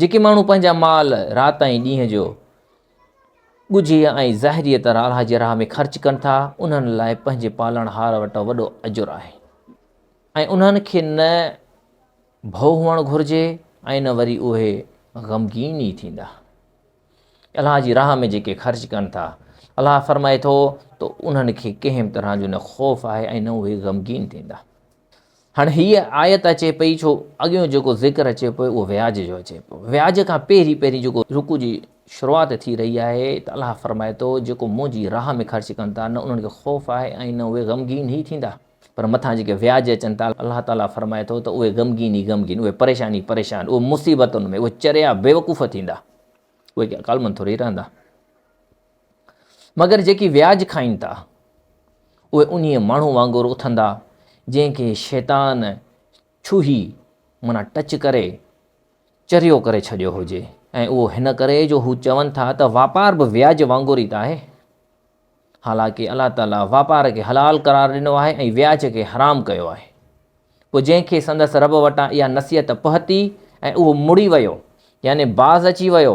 جيڪي ماڻهو پنهنجا مال رات ۽ ڏينهن جو ڳجهي ۽ ظاهريء طرح الله جي راهه ۾ خرچ ڪن ٿا، انهن لاء پنهنجي پالڻهار وٽ وڏو اجر آهي ۽ انهن کي نه ڀؤ هئڻ گهرجي ۽ نه وري اهي غمگين ئي ٿيندا. الله جي راهه ۾ جيڪي خرچ ڪن ٿا، الله فرمائي ٿو ته انهن کي ڪنهن به طرح جو نه خوف آهي ۽ نه اهي غمگين ٿيندا. هاڻي هيء آيت اچي پئي ڇو اڳيون جيڪو ذڪر اچي پيو اهو وياج جو اچي پيو وياج کان پهرين پهرين جيڪو رڪوع جي شروعات ٿي رهي آهي ته الله فرمائي ٿو جيڪو منهنجي راهه ۾ خرچ ڪن ٿا نه انهن کي خوف آهي ۽ نه اهي غمگين هي ٿيندا پر مٿان جيڪي وياج اچن ٿا الله تعالي فرمائي ٿو ته اهي غمگين ئي غمگين اهي پريشان ئي پريشان اهي مصيبتن ۾ اهي چريا بيوقوف ٿيندا اهي ڪالمن ٿوري رهندا مگر جيڪي وياج کائين ٿا، اهي انهيء ماڻهو وانگر اٿندا، جنهن کي شيطان ڇوهي، معنيٰ ٽچ ڪري، چريو ڪري ڇڏيو هجي، ۽ اهو هن ڪري جو هو چون ٿا ته واپار به وياج وانگر ئي ته آهي. حالانڪه الله تعاليٰ واپار کي حلال قرار ڏنو آهي ۽ وياج کي حرام ڪيو آهي. پوء جنهن کي سندس رب وٽان اها نصيحت پهتي ۽ اهو مڙي ويو، يعني باز اچي ويو،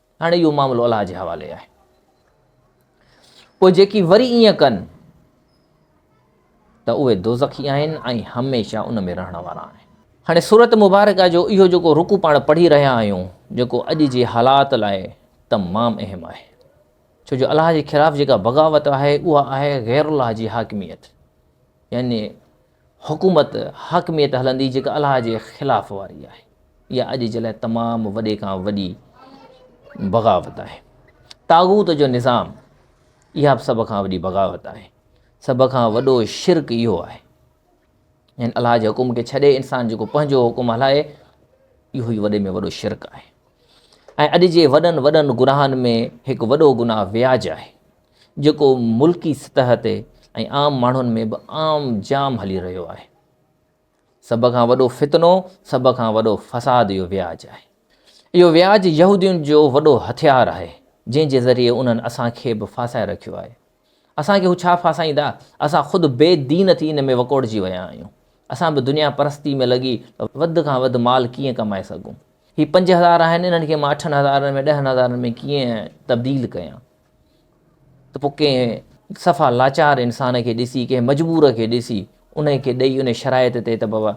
هاڻي اهو معاملو الله جي حوالي آهي پوء جيڪي وري ائين ڪن ته اهي دوزخي آهن ۽ هميشه ان ۾ رهڻ وارا آهن هاڻي صورت مبارڪ جو اهو جيڪو رڪو پاڻ پڙهي رهيا آهيون جيڪو اڄ جي حالات لاء تمام اهم آهي ڇو جو الله جي خلاف جيڪا بغاوت آهي اها آهي غير الله جي حاڪميت يعني حڪومت، حاڪميت هلندي جيڪا الله جي خلاف واري آهي. اها اڄ جي لاء تمام وڏي کان وڏي بغاوت آهي. طاغوت جو نظام اها به سڀ کان وڏي بغاوت آهي. سڀ کان وڏو شرڪ اهو آهي. يعني الله جي حڪم کي ڇڏي انسان جيڪو پنهنجو حڪم هلائي اهو ئي وڏي ۾ وڏو شرڪ آهي. ۽ اڄ جي وڏن وڏن گناهن ۾ هڪ وڏو گناهه وياج آهي. جيڪو ملڪي سطح تي ۽ عام ماڻهن ۾ به عام جام هلي رهيو آهي. سڀ کان وڏو فتنو، سڀ کان وڏو فساد اهو وياج آهي. اهو وياج يهودين جو وڏو هٿيار آهي، جنهن جي ذريعي انهن اسان کي به ڦاسائي رکيو آهي. اسان کي هو ڇا ڦاسائيندا؟ اسان خود بي دين ٿي ان ۾ وڪوڙجي ويا آهيون. اسان به دنيا پرستي ۾ لڳي ته وڌ کان وڌ مال ڪيئن ڪمائي سگهون. هي پنج هزار آهن، انهن کي مان اٺن هزارن ۾ ڏهن هزارن ۾ ڪيئن تبديل ڪيان. ته پوء ڪنهن صفا لاچار انسان کي ڏسي، ڪنهن مجبور کي ڏسي، انهيء کي ڏئي ان شرائط تي ته بابا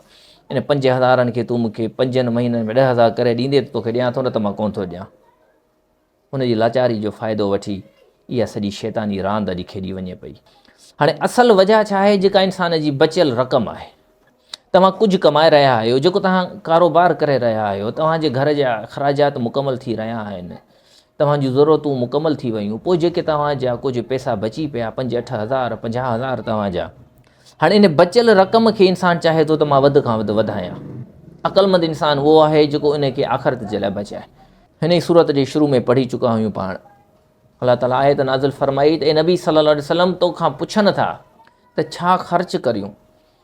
ان پنج هزارن کي تون مون کي پنجن مهينن ۾ ڏهه هزار ڪري ڏيندين ته توکي ڏيان ٿو نه ته مان ڪونه ٿو ڏيان. ان جي لاچاري جو فائدو وٺي اها سڄي شيطاني راند اڄ کيڏي وڃي پئي. هاڻي اصل وجهه ڇا آهي جيڪا انسان جي بچيل رقم آهي. توهان ڪجهه ڪمائي رهيا آهيو جيڪو توهان ڪاروبار ڪري رهيا آهيو توهان جي گهر جا اخراجات مڪمل ٿي رهيا آهن توهان جون ضرورتون مڪمل ٿي ويون پوء جيڪي توهان جا ڪجهه پئسا بچي پيا پنج اٺ هزار پنجاهه هزار توهان جا هاڻي ان بچيل رقم کي انسان چاهي ٿو ته مان وڌ کان وڌ وڌايان عقلمند انسان اهو آهي جيڪو ان کي آخرت جي لاء بچائي هن ئي صورت جي شروع ۾ پڙهي چڪا هيون پاڻ الله تعاليٰ آيت نازل فرمائي ته اي نبي صلي الله عليه وسلم تو کان پڇن ٿا ته ڇا خرچ ڪريون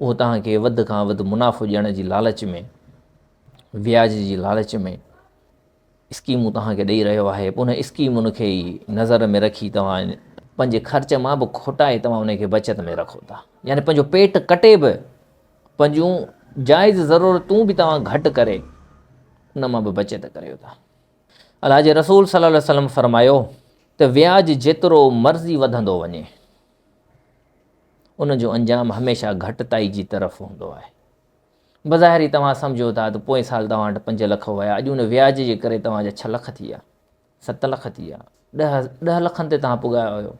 اهو توهان کي وڌ کان وڌ منافعو ڏيڻ جي لالچ ۾ وياج جي لالچ ۾ اسڪيمون توهان کي ڏيئي رهيو آهي ان اسڪيمن کي ئي نظر ۾ رکي توهان پنهنجي خرچ مان به کوٽائي توهان ان کي بچت ۾ رکو ٿا يعني پنهنجو پيٽ ڪٽي به پنهنجون جائز ضرورتون به توهان گهٽ ڪري ان مان به بچت ڪريو ٿا الله جي رسول صلي الله وسلم فرمايو ته وياج جيترو مرضي وڌندو وڃي ان جو انجام هميشه گهٽتائي جي طرف هوندو آهي. بظاهر ئي توهان سمجهو ٿا ته پوئين سال توهان وٽ پنج لک هيا، اڄ ان وياج جي ڪري توهان جا ڇهه لک ٿي ويا، ست لک ٿي ويا، ڏهه ڏهه لکن تي توهان پڳايا هيو،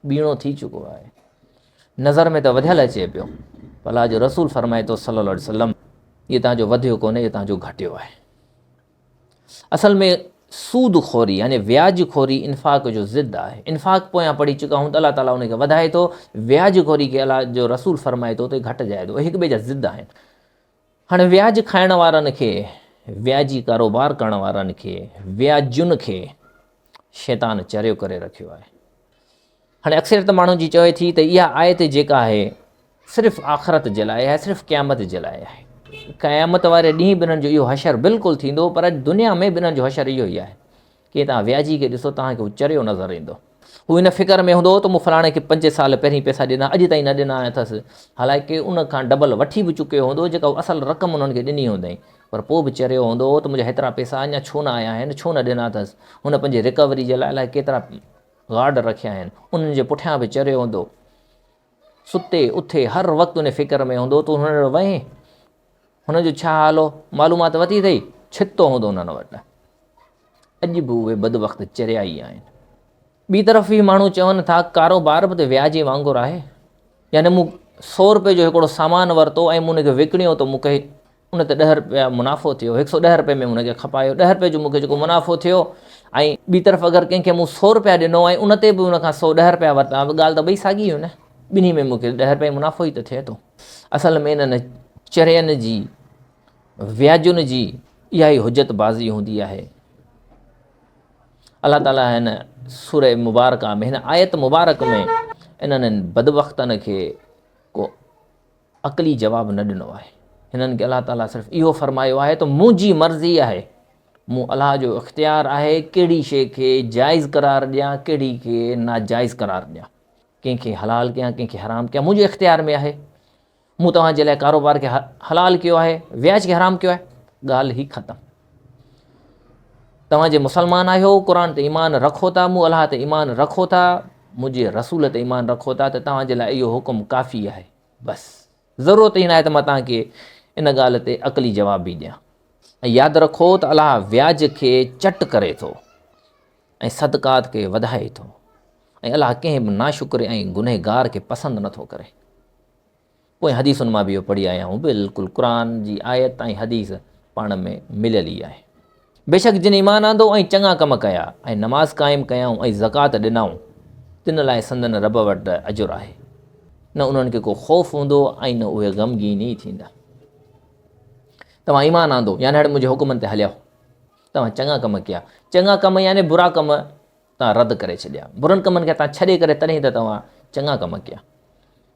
ٻيڻو ٿي چڪو آهي. نظر ۾ ته وڌيل اچي پيو پر الله جو رسول فرمائي ٿو صلي الله عليه وسلم اهو تنهنجو وڌيو ڪونهي اهو تنهنجو گهٽيو آهي. اصل ۾ سود خوري يعني وياج خوري انفاق جو ضد آهي انفاق پويان پڙهي چڪا آهيون ته الله تعاليٰ ان کي وڌائي ٿو وياج خوري کي الله جو رسول فرمائي ٿو ته گهٽجائي ٿو هڪ ٻئي جا ضد آهن هاڻي وياج کائڻ وارن کي وياجي ڪاروبار ڪرڻ وارن کي وياجن کي شيطان چريو ڪري رکيو آهي هاڻي اڪثريت ماڻهن جي چوي ٿي ته اها آيت جيڪا آهي صرف آخرت جي لاء آهي صرف قيامت جي لاء آهي قيامت واري ڏينهن به انهن جو اهو حشر بلڪل ٿيندو پر اڄ دنيا ۾ به انهن جو حشر اهو ئي آهي ڪي تان وياجي کي ڏسو تان کي هو چريو نظر ايندو هو ان فڪر ۾ هوندو ته مون فلاڻي کي پنج سال پهرين پئسا ڏنا اڄ تائين نه ڏنا اٿس حالانڪه ان کان ڊبل وٺي به چڪيو هوندو جيڪا اصل رقم انهن کي ڏني هوندائين پر پوء به چريو هوندو ته منهنجا هيترا پئسا اڃا ڇو نه آيا آهن ڇو نه ڏنا اٿس هن پنهنجي رڪوري جي لاء الاء ڪيترا گارڊ رکيا آهن، انهن جي پٺيان به چريو هوندو. ستي اٿي هر وقت ان فڪر ۾ هوندو تون هن وٽ وئين، هن جو ڇا حال هو، معلومات ورتي اٿئي، ڇتو هوندو انهن وٽ. اڄ به اهي بدبخت چريا ئي آهن. ٻي طرف اهي ماڻهو چون ٿا ڪاروبار به ته وياجي وانگر آهي، يعني مون سؤ روپيه جو هڪڙو سامان ورتو ۽ مون ان کي وڪڻيو ته مون کي ان تي ڏهه رپيا منافعو ٿيو، هڪ سؤ ڏهه رپئي ۾ هن کي کپايو، ڏهه رپئي جو مون کي جيڪو منافعو ٿيو ۽ ٻي طرف اگر ڪنهن کي مون سؤ رپيا ڏنو ۽ ان تي به ان کان سؤ ڏهه رپيا ورتا ته ڳالهه ته ٻئي ساڳي هئي نه، ٻنهي ۾ مون کي ڏهه رپئي منافعو ئي ته ٿئي ٿو. اصل ۾ انهن چرين جي وياجن جي اها ئي حجت بازي هوندي آهي. الله تعاليٰ هن سورة مبارڪه ۾ هن آيت مبارڪ ۾ انهن بدبختن کي ڪو عقلي جواب نه ڏنو آهي. هنن کي الله تعاليٰ صرف اهو فرمايو آهي ته منهنجي مرضي آهي، مون الله جو اختيار آهي ڪهڙي شيء کي جائز قرار ڏيان ڪهڙي کي ناجائز قرار ڏيان، ڪنهن کي حلال ڪيان ڪنهن کي حرام ڪيان منهنجي اختيار ۾ آهي، مون توهان جي لاء ڪاروبار کي حلال ڪيو آهي وياج کي حرام ڪيو آهي ڳالهه ئي ختم. توهان جي مسلمان آهيو قرآن تي ايمان رکو ٿا مون الله تي ايمان رکو ٿا منهنجي رسول تي ايمان رکو ٿا ته توهان جي لاء اهو حڪم ڪافي آهي بس ضرورت هي ناهي ته مان توهان کي ان ڳالهه تي عقلي جواب به ڏيان ۽ ياد رکو ته الله وياج کي چٽ ڪري ٿو ۽ صدقات کي وڌائي ٿو ۽ الله ڪنهن به ناشڪري ۽ گنهگار کي پسند نٿو ڪري پوئين حديثن مان به اهو پڙهي آيا آهيون، بلڪل قرآن جي آيت ۽ حديث پاڻ ۾ مليل ئي آهي. بيشڪ جن ايمان آندو ۽ چڱا ڪم ڪيا ۽ نماز قائم ڪيائون ۽ زڪوات ڏنائون تن لاء سندن رب وٽ اجر آهي، نه انهن کي ڪو خوف هوندو ۽ نه اهي غمگين ئي ٿيندا. توهان ايمان آندو يعني هڙ منهنجي حڪمن تي هليا، توهان چڱا ڪم ڪيا، چڱا ڪم يعني برا ڪم تان رد ڪري ڇڏيا. برن ڪمن کي تان ڇڏي ڪري تڏهن ته توهان چڱا ڪم ڪيا.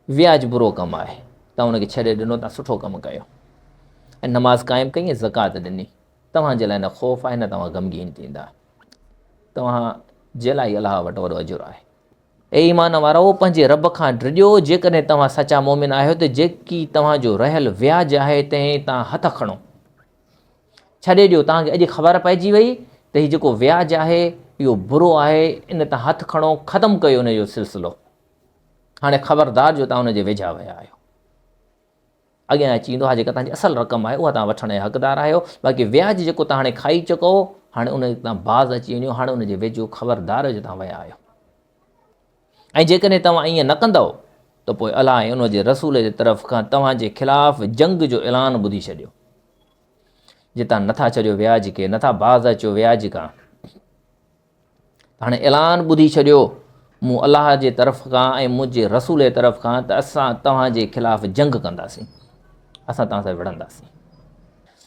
وياج برو ڪم آهي. تان ان کي ڇڏي ڏنو تان سٺو ڪم ڪيو. ۽ نماز قائم ڪئي ۽ زڪوات ڏني. توهان جي لاء نه خوف آهي نه توهان غمگين ٿيندا. توهان جي لاء ئي الله وٽ وڏو اجر آهي. اي ايمان وارؤ! پنهنجي رب کان ڊڄو جيڪڏهن توهان سچا مؤمن آهيو ته جيڪي توهان جو رهيل وياج آهي تنهن تان هٿ کڻو. ڇڏي ڏيو، توهان کي اڄ خبر پئجي وئي ته هي جيڪو وياج آهي اهو برو آهي، ان تان هٿ کڻو، ختم ڪيو ان جو سلسلو. هاڻي خبردار جو توهان ان جي ويجها ويا آهيو. اڳيان اچي ويندو، اها جيڪا توهان جي اصل رقم آهي، اها توهان وٺڻ جا حقدار آهيو، باقي وياج جيڪو توهان هاڻي کائي چڪئو، هاڻي ان تان باز اچي وڃو، هاڻي ان جي ويجهو خبردار جو توهان ويا آهيو. ۽ جيڪڏهن توهان ائين نه ڪندؤ ته پوء الله ۽ ان جي رسول جي طرف کان توهان جي خلاف جنگ جو اعلان ٻڌي ڇڏيو جتان نٿا ڇڏيو ويا جيڪي نٿا باز اچو ويا جيڪا هاڻي اعلان ٻڌي ڇڏيو مون الله جي طرف کان ۽ منهنجي رسول جي طرف کان ته اسان توهان جي خلاف جنگ ڪنداسين اسان توهان سان وڙهنداسين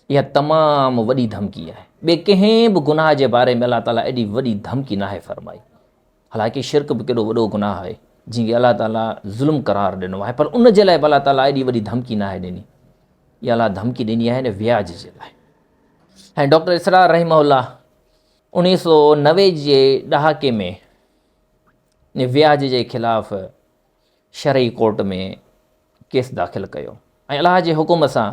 اها تمام وڏي ڌمڪي آهي ٻي ڪنهن به گناهه جي باري ۾ الله تعالیٰ ايڏي وڏي ڌمڪي ناهي فرمائي حالانڪه شرڪ به ڪيڏو وڏو گناهه آهي جنهن کي الله تعاليٰ ظلم قرار ڏنو آهي پر ان جي لاء به الله تعاليٰ ايڏي وڏي ڌمڪي ناهي ڏني اها الله ڌمڪي ڏني آهي هن وياج جي لاء ۽ ڊاڪٽر اسرار رحمه الله انيس سو نوي جي ڏهاڪي ۾ وياج جي خلاف شرعي ڪورٽ ۾ ڪيس داخل ڪيو ۽ الله جي حڪم سان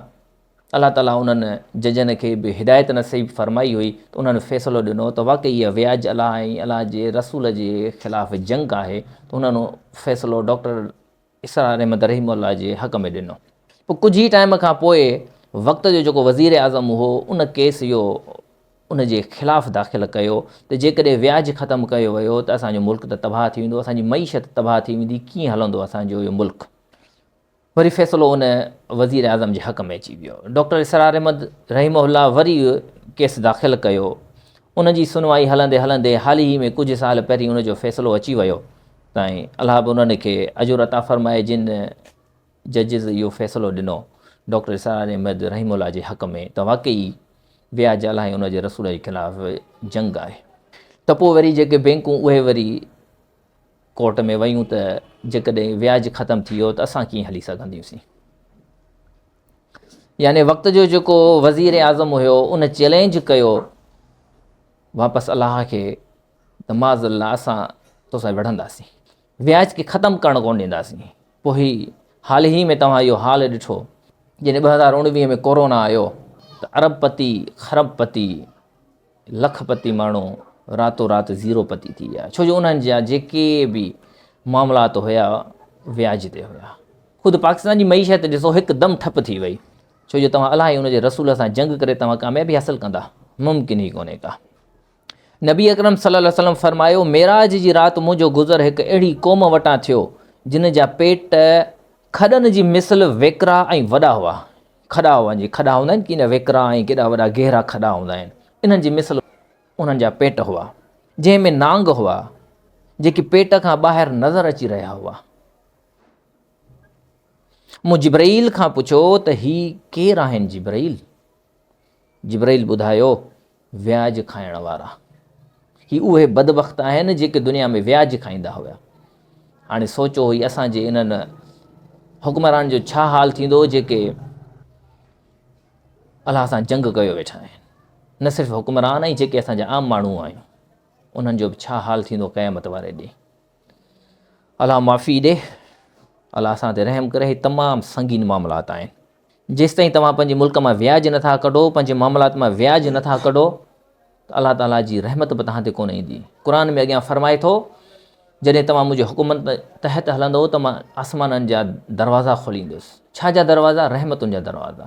الله تعاليٰ انهن ججن کي به هدايت نصيب فرمائي هئي ته انهن فيصلو ڏنو ته واقعي اها وياج الله ۽ الله جي رسول جي خلاف جنگ آهي ته انهن فيصلو ڊاڪٽر اسرار احمد رحيم الله جي حق ۾ ڏنو پوء ڪجهه ئي ٽائيم کان پوء وقت جو جيڪو وزير اعظم هو ان ڪيس جو ان جي خلاف داخل ڪيو ته جيڪڏهن وياج ختم ڪيو ويو ته اسان جو ملڪ ته تباهه ٿي ويندو اسان جي معيشت تباهه ٿي ويندي ڪيئن هلندو اسان جو اهو ملڪ وري فيصلو ان وزير اعظم جي حق ۾ اچي ويو ڊاڪٽر اسرار احمد رحيم الله وري ڪيس داخل ڪيو ان جي سنوائي هلندي هلندي حال ئي ۾ ڪجهه سال پهرين ان جو فيصلو اچي ويو تائين الله به انهن کي اجر عطا فرمائي جن ججز اهو فيصلو ڏنو، ڊاڪٽر اسرار احمد رحيم الله جي حق ۾ ته واقعي وياج الائي ان جي رسول جي خلاف جنگ آهي. ته پوء وري جيڪي بينڪون اهي وري ڪورٽ ۾ ويون ته جيڪڏهن وياج ختم ٿي ويو ته اسان ڪيئن هلي سگهنديون سين. يعني وقت جو جيڪو وزير اعظم هيو ان چيلينج ڪيو واپس الله کي ته معاذ الله اسان توسان وڙهنداسين. وياج کي ختم ڪرڻ ڪونه ڏينداسين پوء هي حال هي ۾ توهان اهو حال ڏٺو جڏهن ٻه هزار اوڻويهه ۾ ڪورونا آيو ته ارب پتي خرب پتي لک پتي ماڻهو راتو رات زيرو پتي ٿي ويا ڇو جو انهن جا جيڪي به معاملات هيا وياج تي هيا خود پاڪستان جي معيشت ڏسو هڪدم ٺپ ٿي وئي ڇو جو توهان الائي ان جي رسول سان جنگ ڪري توهان ڪاميابي حاصل ڪندا ممڪن ئي ڪونهي ڪا نبي اڪرم صلي الله عليه وسلم فرمايو، معراج جي رات منهنجو گذر هڪ اهڙي قوم وٽان ٿيو، جن جا پيٽ کڏن جي مثل ويڪرا ۽ وڏا هئا، کڏا هئا جي کڏا هوندا آهن ڪيئن ويڪرا ۽ ڪيڏا وڏا گهرا کڏا هوندا آهن، انهن جي مثل انهن جا پيٽ هئا، جنهن ۾ نانگ هئا، جيڪي پيٽ کان ٻاهر نظر اچي رهيا هئا. مون جبرئيل کان پڇيو ته هي ڪير آهن جبرئيل؟ جبرئيل ٻڌايو، وياج کائڻ وارا، هي اهي بدبخت آهن جيڪي دنيا ۾ وياج کائيندا هيا. هاڻي سوچو هي اسان جي انهن حڪمران جو ڇا حال ٿيندو جيڪي الله سان جنگ ڪيو ويٺا آهن نه صرف حڪمران ۽ جيڪي اسان جا عام ماڻهو آهيون انهن جو به ڇا حال ٿيندو قيامت واري ڏينهن الله معافي ڏي. الله اسان تي رحم ڪري. هي تمام سنگين معاملات آهن. جيستائين توهان پنهنجي ملڪ مان وياج نٿا ڪڍو، پنهنجي معاملات مان وياج نٿا ڪڍو ته الله تعاليٰ جي رحمت به توهان تي ڪونه ايندي. قرآن ۾ اڳيان فرمائي ٿو جڏهن توهان منهنجي حڪم تحت هلندو ته مان آسمانن جا دروازا کوليندس. ڇا جا دروازا؟ رحمتن جا دروازا.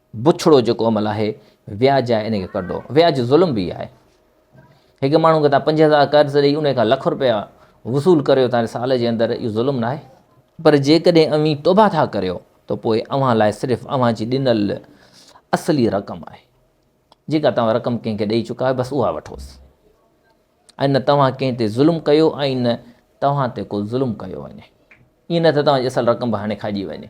بڇڙو جيڪو عمل آهي وياج آهي ان کي ڪڍو وياج ظلم به آهي هڪ ماڻهو کي تان پنج هزار قرض ڏئي ان کان لک روپيا وصول ڪريو تان سال جي اندر اهو ظلم نه آهي پر جيڪڏهن اوهين توبه ٿا ڪريو ته پوء اوهان لاء صرف اوهان جي ڏنل اصلي رقم آهي جيڪا توهان رقم ڪنهن کي ڏئي چڪا آهيو بس اها وٺوس ۽ نه توهان ڪنهن تي ظلم ڪيو ۽ نه توهان تي ڪو ظلم ڪيو وڃي ائين نه ته توهان جي اصل رقم به هاڻي کائجي وڃي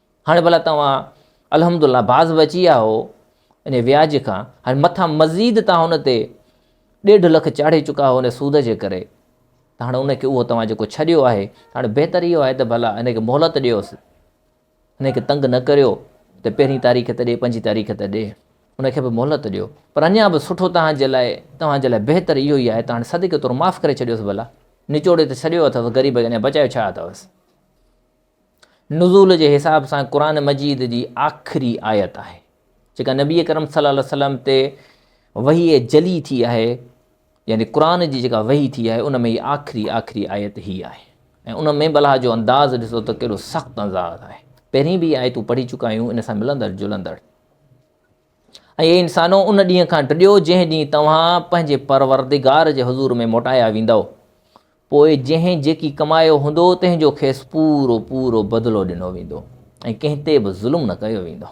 هاڻي ڀلا توهان الحمد الله باز بچي ويا آهو ان وياج کان، هاڻي مٿان مزيد توهان ان تي ڏيڍ لک چاڙهي چڪا آهو ان سود جي ڪري ته هاڻي ان کي اهو توهان جيڪو ڇڏيو آهي هاڻي بهتر اهو آهي ته ڀلا ان کي مهلت ڏيوس ان کي تنگ نه ڪريو ته پهرين تاريخ ته ڏي پنجين تاريخ ته ڏي ان کي به مهلت ڏيو پر اڃا به سٺو توهان جي لاء توهان جي لاء بهتر اهو ئي آهي ته هاڻي صدقي طور معاف ڪري ڇڏيوس ڀلا نچوڙي ته ڇڏيو اٿس غريب کي اڃا بچايو ڇا اٿوس نزول جي حساب سان قرآن مجيد جي آخري آيت آهي جيڪا نبي اڪرم صلي الله عليه وسلم تي وحي جلي ٿي آهي يعني قرآن جي جيڪا وحي ٿي آهي ان ۾ هي آخري آخري آيت هي آهي ۽ ان ۾ بلا جو انداز ڏسو ته ڪهڙو سخت انداز آهي پهرين به آيتون پڙهي چڪا آهيون ان سان ملندڙ جلندڙ ۽ انسانو ان ڏينهن کان ڊڄو جنهن ڏينهن توهان پنهنجي پروردگار جي حضور ۾ موٽايا ويندو پوء جنهن جيڪي ڪمايو هوندو تنهن جو کيس پورو پورو بدلو ڏنو ويندو ۽ ڪنهن تي به ظلم نه ڪيو ويندو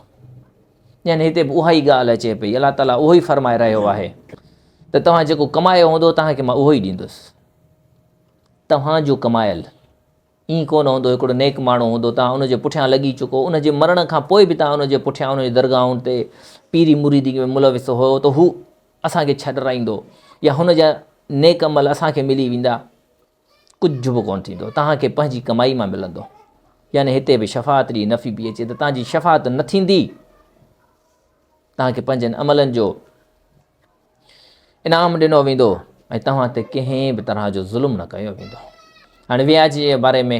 يعني هتي به اها ئي ڳالهه اچي پئي الله تعاليٰ اهو ئي فرمائي رهيو آهي ته توهان جيڪو ڪمايو هوندو توهان کي مان اهو ئي ڏيندس توهان جو ڪمايل ائين ڪو نه هوندو هڪڙو نيڪ ماڻهو هوندو توهان ان جي پٺيان لڳي چڪو ان جي مرڻ کان پوء به توهان ان جي پٺيان ان جي درگاهن تي پيري مريدي ۾ ملوث هو ته هو اسان کي ڇا ڊرائيندو يا هن جا نيڪ عمل اسان کي ملي ويندا؟ ڪجهه به ڪونه ٿيندو، توهان کي پنهنجي ڪمائي مان ملندو. يعني هتي به شفاعت جي نفي پئي اچي ته توهان جي شفاعت نه ٿيندي، توهان کي پنهنجن عملن جو انعام ڏنو ويندو ۽ توهان تي ڪنهن به طرح جو ظلم نه ڪيو ويندو. هاڻي وياج جي باري ۾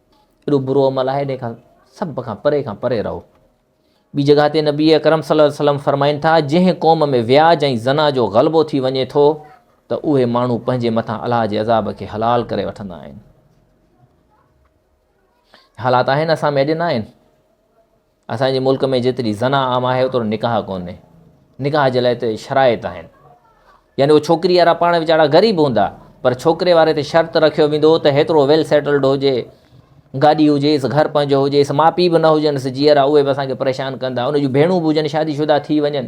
ايڏو برو عمل آهي ان کان سڀ کان پري کان پري رهو ٻي جڳهه تي نبي اڪرم صلي الله وسلم فرمائن ٿا جنهن قوم ۾ وياج ۽ زنا جو غلبو ٿي وڃي ٿو ته اهي ماڻهو پنهنجي مٿان الله جي عذاب کي حلال ڪري وٺندا آهن حالات آهن اسان ۾ اڄ نه آهن اسان جي ملڪ ۾ جيتري زنا عام آهي اوترو نڪاح ڪونهي نڪاح جي لاء هتي شرائط آهن يعني اهو ڇوڪري وارا پاڻ ويچارا غريب هوندا پر ڇوڪري واري تي شرط رکيو ويندو ته هيترو ويل سيٽلڊ هجي گاڏي هجيس گهر پنهنجو هجيس ماء پيء به نه هجنس جيئرا اهي به اسانکي پريشان ڪندا ان جون ڀيڻون به هجن شادي شدا ٿي وڃن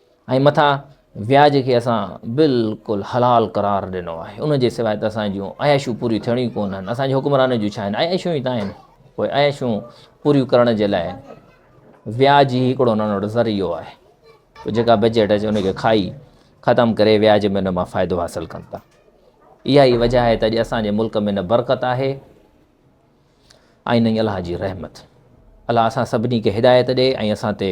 ۽ مٿان وياج کي اسان بلڪل حلال قرار ڏنو آهي ان جي سواء ته اسان جون عياشون پوريون ٿيڻيون ئي ڪونهن اسان جي حڪمرانن جون ڇا آهن عياشون ئي ته آهن پوء عياشون پوريون ڪرڻ جي لاء وياج ئي هڪڙو انهن وٽ ذريعو آهي پوء جيڪا بجيٽ اچي ان کي کائي ختم ڪري وياج ۾ ان مان فائدو حاصل ڪن ٿا اها ئي وجہ آهي ته اڄ اسان جي ملڪ ۾ نه برڪت آهي ۽ نه ئي الله جي رحمت الله اسان سڀني کي هدايت ڏي ۽ اسان تي